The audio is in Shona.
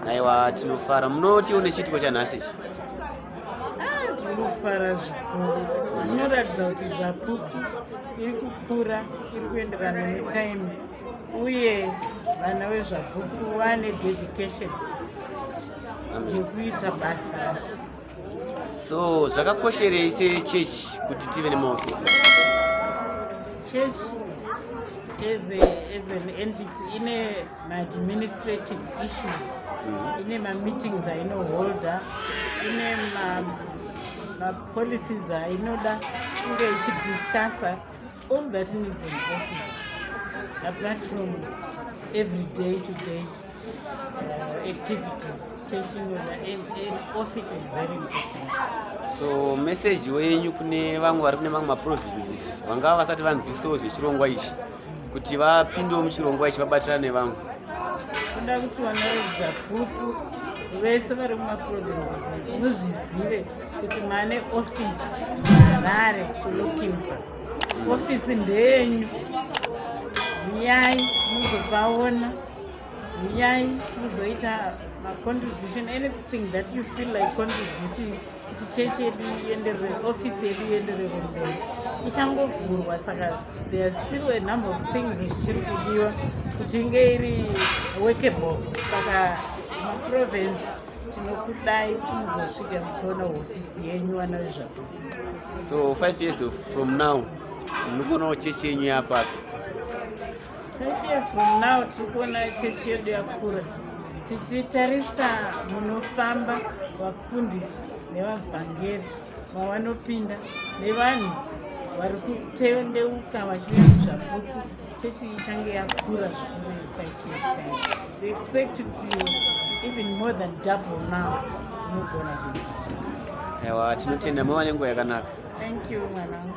aiwa tinofara munoti une chiitiko chanhasi ichi tinofara ah, zvikuru zvinoratidza kuti zvapupu iri kukura iri kuenderana netime uye vana vezvapupu vane dedication yekuita basa racho So zvakakosherei sechechi kuti tive nemaofisi? Church as, a, as an entity ine maadministrative issues mm -hmm. ine mameetings ainoholda ine mapolicies ainoda kunge ichidiscussa All that needs an office apart from every day to day uh, activities teaching an office is very important so message wenyu kune vamwe vari kune mamwe maprovinces vangava vasati vanzwisawo zvechirongwa ichi kuti vapindewo muchirongwa ichi vabatirane nevamwe kuda kuti vana vezapupu vese vari mumaprovinces muzvizive kuti mane office mharare kulokimba ofisi ndeyenyu huyai muzovaona huyai muzoita macontribution anything that you feel like contributing kuti chechi yedu ienderere ofisi yedu ienderere mberi ichangovhurwa saka there are still a number of things zvichiri kudiwa kuti inge iri workable saka maprovince tinokudai kuzosvika muchiona hofisi yenyu vana vezvapupu So five years from now munokuonawo chechi yenyu yapapi? Five years from now tiri kuona chechi yedu yakura tichitarisa munofamba vafundisi nevavhangeri vawanopinda nevanhu vari kutendeuka vachive muzvapupu Chechi ichange yakura zvikuru in five years time. We expect kuti even more than double now unogona kuita. Ewa, tinotenda mava nenguva yakanaka. Thank you mwanangu.